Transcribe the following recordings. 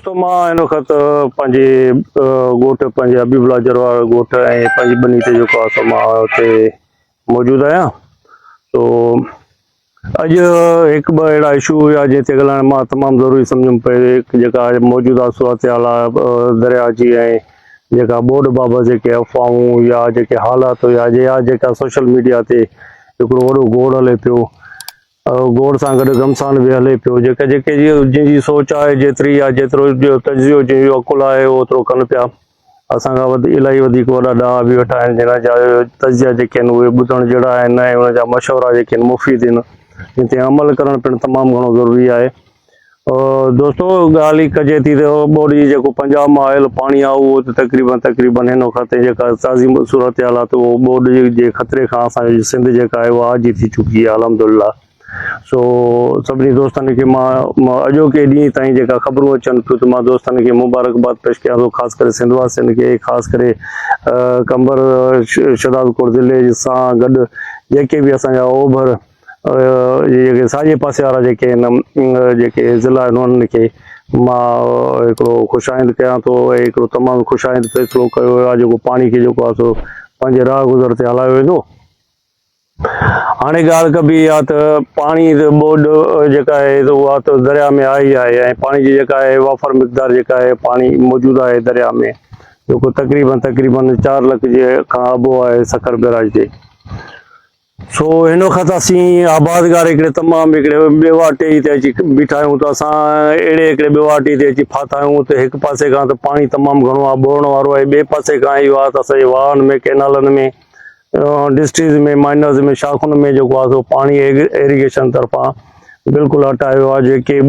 ته مان هن وقت پنهنجي ڳوٺ پنهنجي حبيب الله جروار ڳوٺ ۽ پنهنجي ٻني تي جيڪو آسو مان اتي موجود آهيان تو اڄ هڪ ٻه اهڙا اشو هيا جنهن تي ڳالهائڻ مان تمام ضروري سمجهم پئي هڪ جيڪا موجوده صورتحال درياء جي ۽ جيڪا ٻوڏ بابت جيڪي افواهون يا جيڪي حالات هيا يا جيڪا سوشل ميڊيا تي هڪڙو وڏو گوڙ هلي پيو گوڙ سان گڏ گمسان به هلي پيو. جيڪي جيڪي جي جنهن جي سوچ آهي جيتري يا جيترو جو تجزيو جنهن جو عقل آهي اهو اوترو ڪن پيا. اسان کان وڌ الائي وڌيڪ وڏا ڏاها به ويٺا آهن جنهن جا تجزيا جيڪي آهن اهي ٻڌڻ جهڙا آهن ۽ انهن جا مشورا جيڪي آهن مفيد آهن جن تي عمل ڪرڻ پڻ تمام گهڻو ضروري آهي. دوستو ڳالهه هي ڪجي ٿي ته ٻوڏ جي جيڪو پنجاب مان آيل پاڻي آهي اهو ته تقريبن تقريبن هن وقت تي جيڪا تازي صورتحال آهي ته اهو ٻوڏ جي خطري کان اسان جي سنڌ جيڪا آهي اها آجي ٿي چڪي آهي الحمدلله سو سڀني دوستن کي مان اڄوڪي ڏينهن تائين جيڪا خبرون اچن ٿيون ته مان دوستن کي مبارڪباد پيش ڪيان ٿو خاص ڪري سنڌ واسين کي خاص ڪري قمبر شهداد ڪوٽ ضلعي سان گڏ جيڪي به اسان جا اوڀر جيڪي ساڄي پاسي وارا جيڪي آهن جيڪي ضلع آهن انهن کي مان هڪڙو خوش آئند ڪيان ٿو ۽ هڪڙو تمام خوش آئند فيصلو ڪيو ويو آهي جيڪو پاڻي کي جيڪو آهي سو پنهنجي راهه گذر تي هلايو ويندو هاڻي ڳالهه ڪبي اها ته پاڻي ٻوڏ جيڪا آهي اها ته درياء ۾ آئي آهي ۽ پاڻي جي جيڪا آهي وافر مقدار جيڪا آهي پاڻي موجود آهي درياء ۾ جيڪو تقريبن تقريبن چار لک جي کان ابو آهي سکر بيراج تي سو هن وقت اسين آبادگار هڪڙي تمام هڪڙي ٻيواٽي تي اچي بيٺا آهيون ته اسان اهڙي هڪڙي ٻيواٽي تي اچي ڦاٿا آهيون ته هڪ پاسي کان ته پاڻي تمام گهڻو آهي ٻوڙڻ وارو آهي ٻئي پاسي کان اهو آهي ته اسان جي واهن ۾ ڪئنالن ۾ ڊسٽريز ۾ مائنرز ۾ شاخن ۾ جيڪو آهي سو پاڻي ايريگيشن طرفان بلڪل هٽايو آهي جيڪي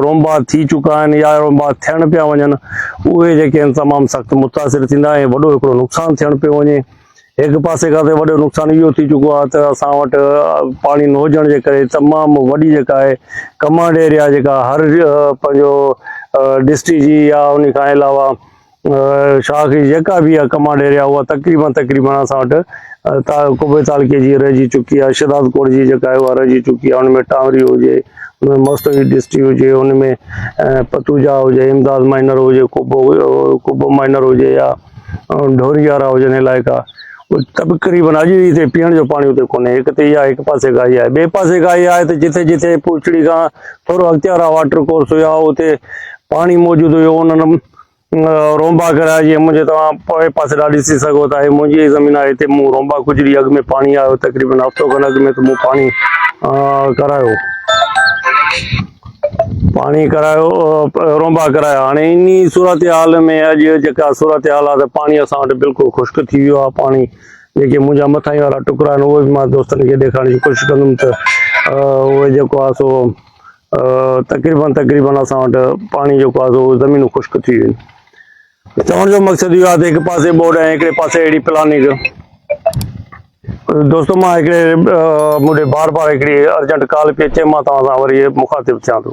رومبا ٿي چڪا آهن يا رومبا ٿيڻ پيا وڃن اهي جيڪي تمام سخت متاثر ٿيندا ۽ وڏو هڪڙو نقصان ٿيڻ پيو وڃي هڪ پاسي کان ته وڏو نقصان اهو ٿي چڪو آهي ته اسان وٽ پاڻي نه هجڻ جي ڪري تمام وڏي جيڪا آهي ڪمانڊ ايريا جيڪا هر پنهنجو ڊسٽرڪٽ جي يا ان کان علاوه شاخ جي جيڪا به اها ڪمانڊ ايريا اها تقريبن تقريبن اسان وٽ ڪوبي تعلقي جي رهجي چڪي آهي شداد ڪوٽ جي جيڪا اها رهجي چڪي آهي ان ۾ ٽانوري هجي ان ۾ مستوي ڊسٽرڪ هجي ان ۾ پتوجا هجي امداد مائنر هجي ڪوبو ڪوبو مائنر هجي يا ڍوري يارا هجن علائقا تقريبن اڄ جي تي پيئڻ جو پاڻي اتي ڪونهي هڪ تي اها هڪ پاسي گاهي آهي ٻئي پاسي گاهي آهي ته جتي جتي پوچڙي کان ٿورو اڳتي وارا واٽر ڪورس هيا اتي پاڻي موجود هيو انهن رومبا ڪرايا جي منهنجي توهان پوئين پاسي ڏا ڏسي سگهو ٿا هي منهنجي زمين آهي هتي مون رومبا گذري اڳ ۾ پاڻي آيو تقريبن هفتو کن اڳ ۾ ته مون پاڻي ڪرايو پاڻي ڪرايو رونبا ڪرايا هاڻي انهي صورتحال ۾ اڄ جيڪا صورتحال آهي ته پاڻي اسان وٽ بلڪل خشڪ ٿي ويو آهي پاڻي جيڪي منهنجا مٿاهين وارا ٽڪرا آهن اهي به مان دوستن کي ڏيکارڻ جي ڪوشش ڪندم ته اهي جيڪو آهي سو تقريبن تقريبن اسان وٽ پاڻي جيڪو آهي سو زمينون خشڪ ٿي ويون چوڻ جو مقصد اهو آهي ته هڪ پاسي ٻوڏ ۽ هڪڙي پاسي اهڙي پلاننگ دوستو مان هڪڙي مون ڏي بار بار هڪڙي ارجنٽ ڪال پئي اچي مان توهان سان وري مخاطب ٿيان ٿو